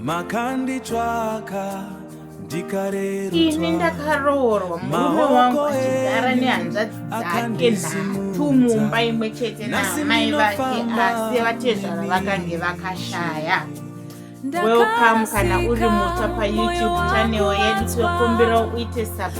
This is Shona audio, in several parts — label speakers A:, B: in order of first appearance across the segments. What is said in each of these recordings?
A: makanditsvaka ini
B: ndakaroorwa murume wangu achigara nehanzvadzi dzake nhatu mumba imwe chete naamai vake asi vatezvara vakange vakashaya welcome kana uri mutsva payoutube channel yedu tinokumbirawo uite subs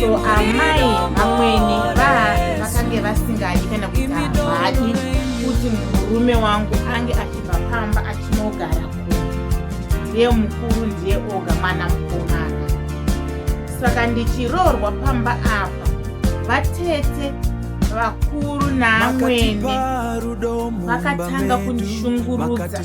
B: so amai amweni vakange vasingadi kana kuti havadi kuti murume wangu ange achibva pamba achinogara kunze ndiye mukuru ndiye oga mwana mukomana saka ndichiroorwa pamba apa vatete vakuru naamwene vakatanga kundishungurudza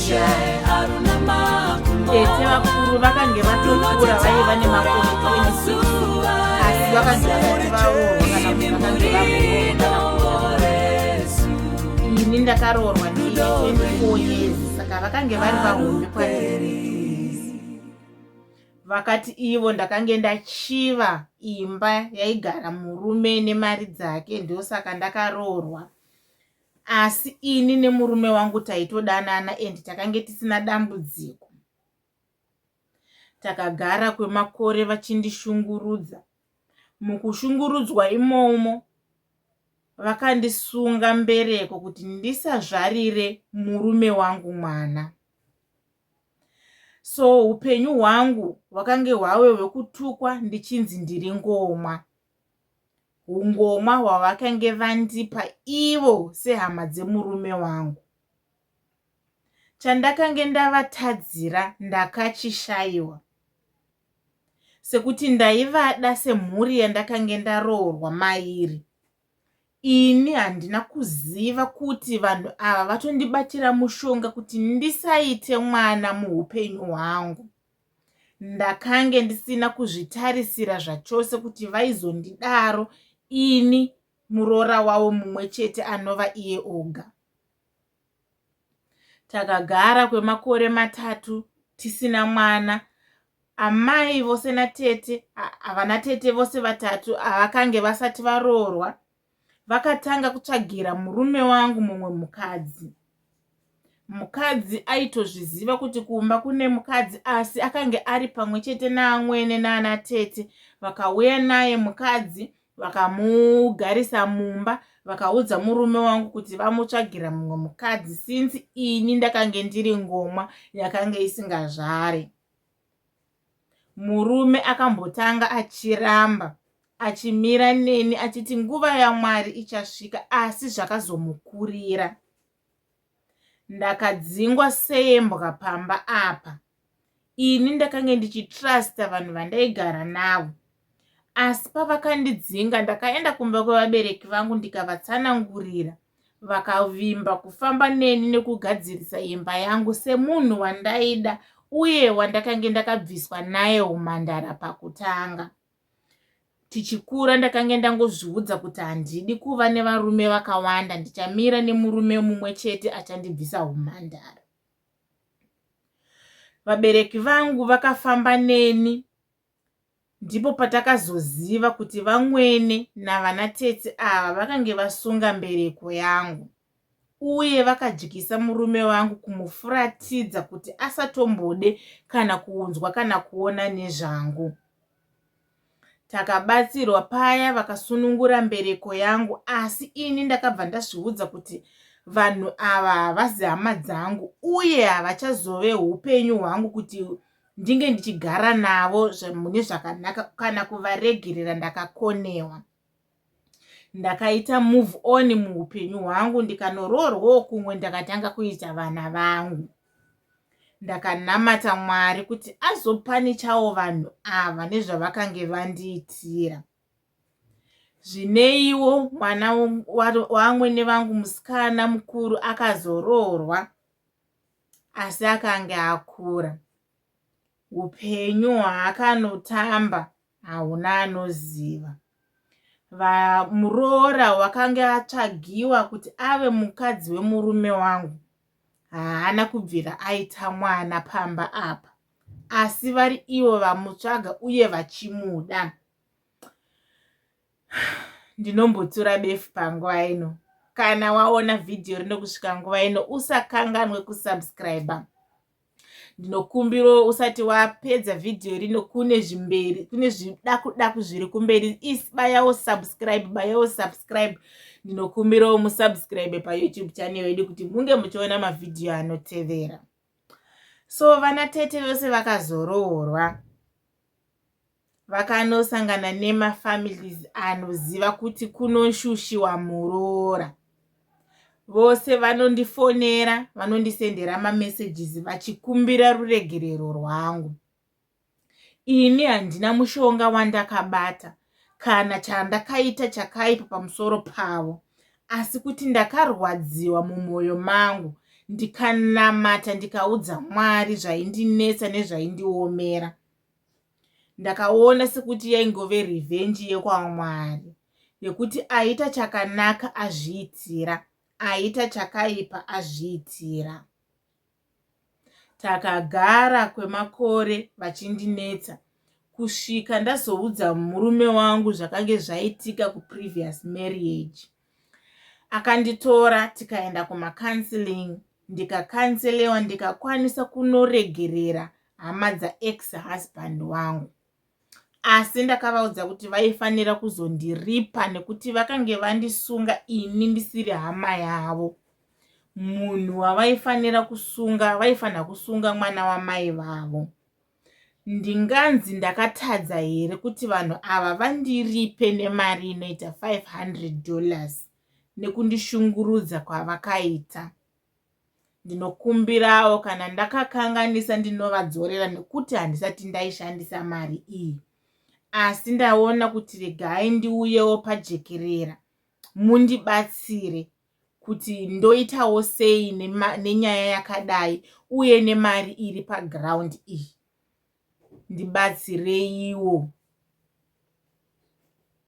B: tete vakuru vakange vatokura vaiva nemakore 26 asi vakange vasati varoorwa kana kuti vakange vakuroorwa ini ndakaroorwa ndine 24 years saka vakange vari vahombe kwandiri vakati ivo ndakange ndachiva imba yaigara murume nemari dzake ndosaka ndakaroorwa asi ini nemurume wangu taitodanana and takange tisina dambudziko takagara kwemakore vachindishungurudza mukushungurudzwa imomo vakandisunga mbereko kuti ndisazvarire murume wangu mwana so upenyu hwangu hwakange hwave hwekutukwa ndichinzi ndiri ngomwa hungoma hwavakange vandipa ivo sehama dzemurume wangu chandakange ndavatadzira ndakachishaiwa sekuti ndaivada semhuri yandakange ndaroorwa mairi ini handina kuziva kuti vanhu ava vatondibatira mushonga kuti ndisaite mwana muupenyu hwangu Ndakange ndisina kuzvitarisira zvachose kuti vaizondidaro ini muroora wavo mumwe chete anova iye oga. Takagara kwemakore matatu tisina mwana. Amai vose natete, havana tete vose vatatu havakange vasati varoorwa. vakatanga kutsvagira murume wangu mumwe mukadzi mukadzi aitozviziva kuti kumba kune mukadzi asi akange ari pamwe chete naamwene naana tete vakauya naye mukadzi vakamugarisa mumba vakaudza murume wangu kuti vamutsvagira mumwe mukadzi since ini ndakange ndiri ngomwa yakange isingazvare Murume akambotanga achiramba achimira neni achiti nguva yaMwari ichasvika asi zvakazomukurira. Ndakadzingwa sembwa pamba apa. Ini ndakange ndichitrusta vanhu vandaigara navo. Asi pavakandidzinga ndakaenda kumba kwevabereki vangu ndikavatsanangurira. Vakavimba kufamba neni nekugadzirisa imba yangu semunhu wandaida uye wandakange ndakabviswa naye humhandara pakutanga. Tichikura ndakange ndangozviudza kuti handidi kuva nevarume vakawanda ndichamira nemurume mumwe chete achandibvisa humhandara. Vabereki vangu vakafamba neni Ndipo patakazoziva kuti vamwene navana tete ava vakange vasunga mbereko yangu uye vakadyisa murume wangu kumufuratidza kuti asatombode kana kuunzwa kana kuona nezvangu. Takabatsirwa paya vakasunungura mbereko yangu asi ini ndakabva ndazviudza kuti vanhu ava havazi hama dzangu uye havachazove upenyu hwangu kuti ndinge ndichigara navo mune zvakanaka kana kuvaregerera ndakakonewa ndakaita move on muupenyu hwangu ndikanoroorwawo kumwe ndakatanga kuita vana vangu ndakanamata mwari kuti azopanichawo vanhu ava nezvavakange vandiitira zvineiwo mwana wamwene vangu musikana mukuru akazoroorwa asi akange akura upenyu hwaakanotamba hauna anoziva muroora wakange atsvagiwa kuti ave mukadzi wemurume wangu haana kubvira aita mwana pamba apa asi vari ivo vamutsvaga uye vachimuda ndinombotura befu panguva ino kana waona vhidhiyo rino kusvika nguva ino usakanganwe kusubscribe ndinokumbirawo usati wapedza vhidhiyo rino kune zvimberi kune zvidakudaku zviri kumberi isibayawo subscribe bayawo subscribe ndinokumbirawo musubscribe payoutube channel yedu kuti munge muchiona mavhidhiyo anotevera so vana tete vose vakazoroorwa vakanosangana nemafamilies anoziva kuti kunoshushiwa muroora vose vanondifonera vanondisendera mamessages vachikumbira ruregerero rwangu ini handina mushonga wandakabata wa kana chandakaita chakaipa pamusoro pavo, asi kuti ndakarwadziwa mumwoyo mangu ndikanamata ndikaudza Mwari zvaindinetsa nezvaindiomera. Ndakaona sekuti yaingove revenge yekwaMwari yekuti aita chakanaka azviitira, aita chakaipa azviitira. Takagara kwemakore vachindinetsa kusvika ndazoudza murume wangu zvakange zvaitika kuprevious marriage. Akanditora tikaenda kumacounseling ndikacanselewa ndikakwanisa kunoregerera hama dzaex husband wangu. asi ndakavaudza kuti vaifanira kuzondiripa nekuti vakange vandisunga ini ndisiri hama yavo munhu wavaifanira kusunga vaifanira kusunga mwana wamai vavo ndinganzi ndakatadza here kuti vanhu ava vandiripe nemari inoita 500 dollars nekundishungurudza kwavakaita Ndinokumbirawo kana ndakakanganisa ndinovadzorera nekuti handisati ndaishandisa mari iyi. Asi ndaona kuti regai ndiuyewo pajekerera mundibatsire kuti ndoitawo sei nenyaya yakadai uye nemari iri paground iyi. Ndibatsireiwo.